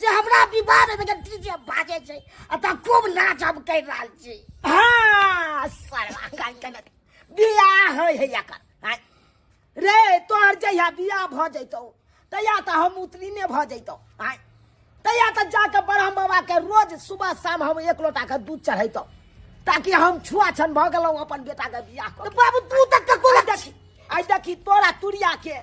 से हमरा विवाद में के डीजे बाजे छै आ त खूब नाच हम कर रहल छी हां सरवा काल के बियाह होय है एकर हाँ। रे तोहर जहिया बियाह भ जइतौ तहिया त हम उतरी ने भ जइतौ हाँ। तहिया त जाके ब्रह्म बाबा के रोज सुबह शाम हम एक लोटा के दूध चढ़ैतौ ताकि हम छुआ छन भ गेलौ अपन बेटा के बियाह कर बाबू तू तक का कोला देखी आई देखी तोरा तुरिया के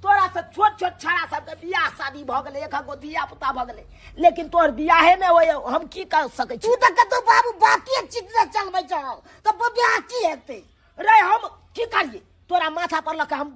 तोरा से छोट छोट छाड़ा सब के बियाह शादी भ गेले एक गो धिया पुता भ गेले लेकिन तोर बियाहे में होय हम की कर सके छी तू तक का तो बाबू बाकी चित न चलबै छ त बियाह की हेतै रे हम की करिए तोरा माथा पर लके हम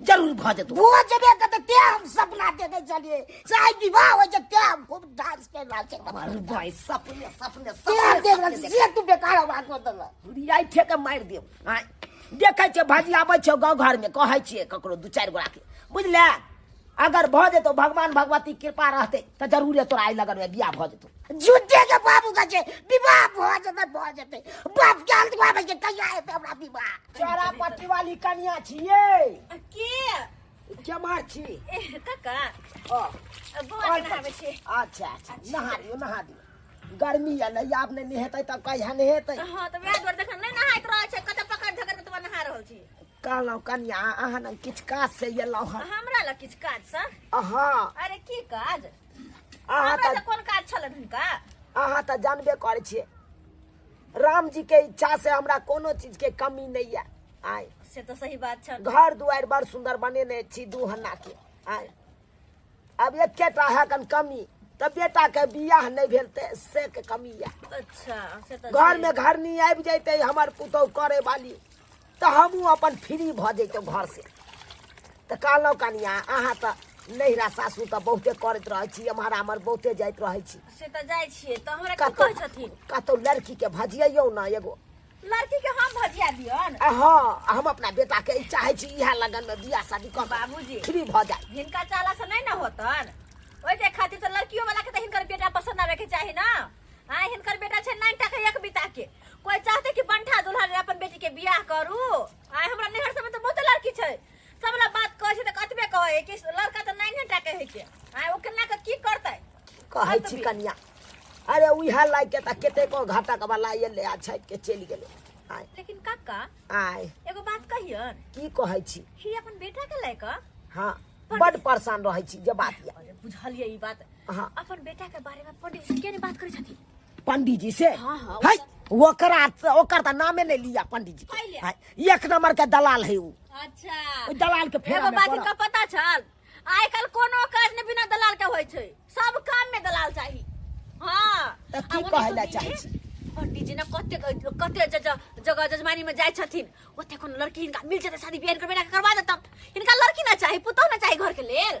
जरूर भऽ जेतौ भऽ जेबे करतै तेँ हम सपना देने छलियै चाहे विवाह होइ छै तेँ हम खूब डांस करि रहल छी अरे भाय सपने सपने तेँ देख रहल छी से तू बेकार आवाज कऽ देलक बुढ़ियाइ ठेके मारि देब आँय देखै छियै भजियाबै छियौ गाँव घरमे कहै छियै ककरो दू चारि गोराके बुझले अगर भऽ जेतौ भगवान भगवती कृपा रहतै तऽ जरूरे तोरा आइ लगनमे बियाह भऽ जेतौ झूठे के बाबू का छे विवाह भ जते भ जते बाप के अंत में बजे कहिया हेते हमरा विवाह चोरा पट्टी वाली कन्या छिए के के मार छी कका ओ बौआ के नहाबे छी अच्छा अच्छा नहा दियो नहा दियो गर्मी है नहीं आप नहीं नहेते तब कहिया नहेते हां त वैह दुआरे देखन नहीं नहाइत रहै छै कत पकड़ झगड़ के तब नहा रहल छी कहलहुँ कन्या अहाँ ने किछु काज से एलहुँ हँ हमरा लग किछु काज सर अहाँ अरे की काज अहाँ हमरा तऽ से कोन काज छलन हुनका अहाँ तऽ जानबे करै छियै रामजी के इच्छा से हमरा कोनो चीज के कमी नहीं है आय से तो सही बात छल घर दुआर बड़ सुंदर बनेने छी दू हन्ना के आय अब एकेटा है कन कमी तऽ बेटा के बियाह नहीं भेल ते से के कमी है अच्छा से तो घर में घरनी आबि जैते हमर पुतौह करे वाली तऽ हमहूँ अपन फ्री भऽ जैतहुँ घरसँ तऽ कहलहुँ कनिया अहाँ तऽ नैहरा सासू तऽ बहुते करैत रहै छी एम्हर आम्हर बहुते जाइत रहै छी से तऽ जाइ छियै तऽ हमरा की कतहु कहै छथिन कतहु लड़कीके भजियौ ने एगो लड़की के हम भजिया दियन आ हँ हम अपना बेटाके ई चाहै छी इएह लगनमे बियाह शादी कर बाबूजी फ्री भऽ जाए हिनका चाला से नहीं ना होतन ओहि के खातिर तो लड़कियों वाला के तो हिनकर बेटा पसंद आवे के चाही ना हाँ हिनकर बेटा छै नाइन टाके एक बिता के कोई चाहते कि बंठा दुल्हा रे अपन बेटी के बियाह करू आय हमरा नहर सब में तो बहुत लड़की छै सब ला बात कहै छै त कतबे कहै कि लड़का त नाइन टाके है के आय ओ केना के की करतै कहै छी कनिया अरे उहे लाग के त केते को घाटा के वाला एले आ छाट के चलि गेले आय लेकिन काका आय एगो बात कहियन की कहै छी ही अपन बेटा के लेके हाँ बड परेशान रहै छी जे बात या अरे बुझलिए ई बात हाँ। अपन बेटा के बारे में पंडित जी के बात करे छथि पंडित जी से हाँ, हाँ, है ओकर ओकर त नामे नहीं लिया पंडित जी के एक नंबर के दलाल है वो अच्छा दलाल के फेर बात का पता चल आइ कल कोनो काज ने बिना दलाल के होय छै सब काम में दलाल चाहिए हां त की कहला चाहै छी पंडित जी ने कते कते जगह जजमानी में जाय छथिन ओते कोनो लड़की इनका मिल जते शादी बियाह करबे ना करवा देतम इनका लड़की ना चाहिए पुतौ ना चाहिए घर के लेल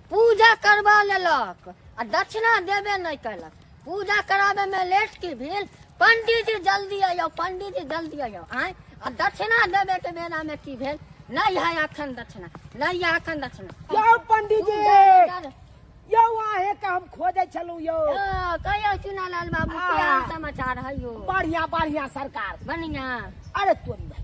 पूजा करवा लेलक आ दक्षिणा देबे नहि कयलक पूजा कराबे में लेट की भेल पंडित जी जल्दी आयो पंडित जी जल्दी आयो आय आ दक्षिणा देबे के बेरा में की भेल नहीं है अखन दक्षिणा नहीं है अखन दक्षिणा यौ पंडित जी पूजा- यौ अहे के हम खोजे छलू यौ ओ, कहियो चुनालाल बाबू के आ। हाल समाचार है यो बढ़िया बढ़िया सरकार बढ़िया अरे तोरी भाई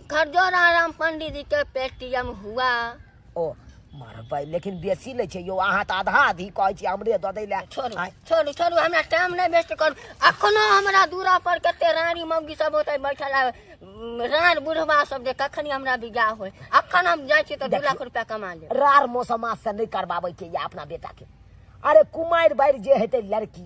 खरजोरा राम पंडित जी के पेटीएम हुआ ओ मरबै लेकिन बेसी लै छै यौ अहाँ तऽ आधा आधी कहै छी हमरे दऽ दै लए छोड़ू आँय, छोड़ू छोड़ू हमरा टाइम नहि वेस्ट करू अखनो हमरा दूरा पर कते रानी मौगी सब होते बैठल आ उम, रान बुढ़वा सब जे कखनी हमरा बिगाह होय अखन हम जाइ छी तऽ दू लाख रुपया कमा लेब रार मौसम से नहि करबाबै के या अपना बेटा के अरे कुमारि बारि जे हेतै लड़की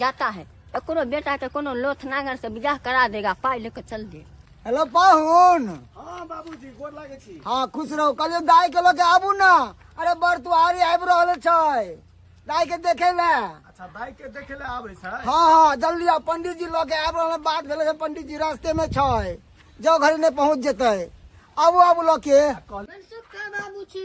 जाता है एकरो बेटा के कोनो लोथ नागर से बियाह करा देगा पाई लेके चल दे हेलो पाहुन हाँ बाबूजी गोर लागे छी हाँ खुश रहो कल दाई के लोग आबू ना अरे बर तू आरी आबि रहल छै दाई के देखे ले अच्छा दाई के देखे ले आबे छै हाँ हाँ जल्दी आ पंडित जी लोग आबि रहल बात भेले छै पंडित जी रास्ते में छै जो घर नहीं पहुंच जेते आबू आबू लोग के बाबू छी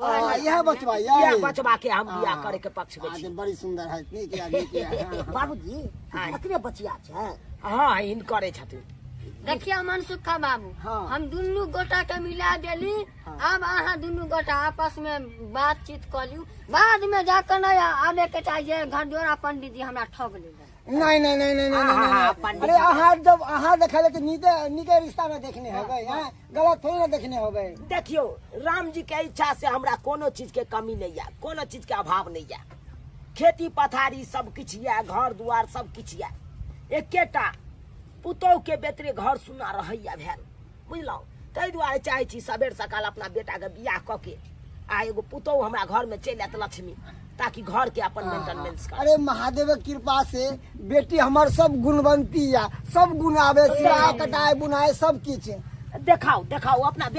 हाँ, यह बचवा यह यह बचवा के हम बियाह हाँ। करे के पक्ष में हाँ, छी बड़ी सुंदर है इतनी के आगे के हाँ, हाँ। बाबूजी इतने बचिया छै हां इन करे छथिन देखिए मन सुखा बाबू हाँ। हम दुनू गोटा के मिला देली हाँ। अब अहाँ दुनू गोटा आपस में बातचीत कर लियू बाद में जाकर नहीं आवे के चाहिए घर जोड़ा पंडित जी हमरा ठग ले नहीं नहीं नहीं नहीं नहीं अरे अहाँ जब अहाँ देखा लेकिन नीके नीके रिश्ता में देखने है भाई गलत थोड़ी ना देखने होबे देखियो राम जी के इच्छा से हमरा कोनो चीज के कमी नहीं है कोनो चीज के अभाव नहीं है खेती पथारी सब किछ या घर दुआर सब किछ या एकेटा पुतोह के बेतरे घर सुना रहैया भेल बुझलहुँ ताहि दुआरे चाहै छी सबेर सकाल अपना बेटाके बियाह कऽ के आ एगो पुतोह हमरा घरमे चलि आयत लक्ष्मी ताकि घर के अपन मेंटेनेंस कर अरे महादेव के कृपा से बेटी हमर सब गुणवंती या सब गुण आवे सिलाई कटाई बुनाई सब किछ देखाओ देखाओ अपना बेटी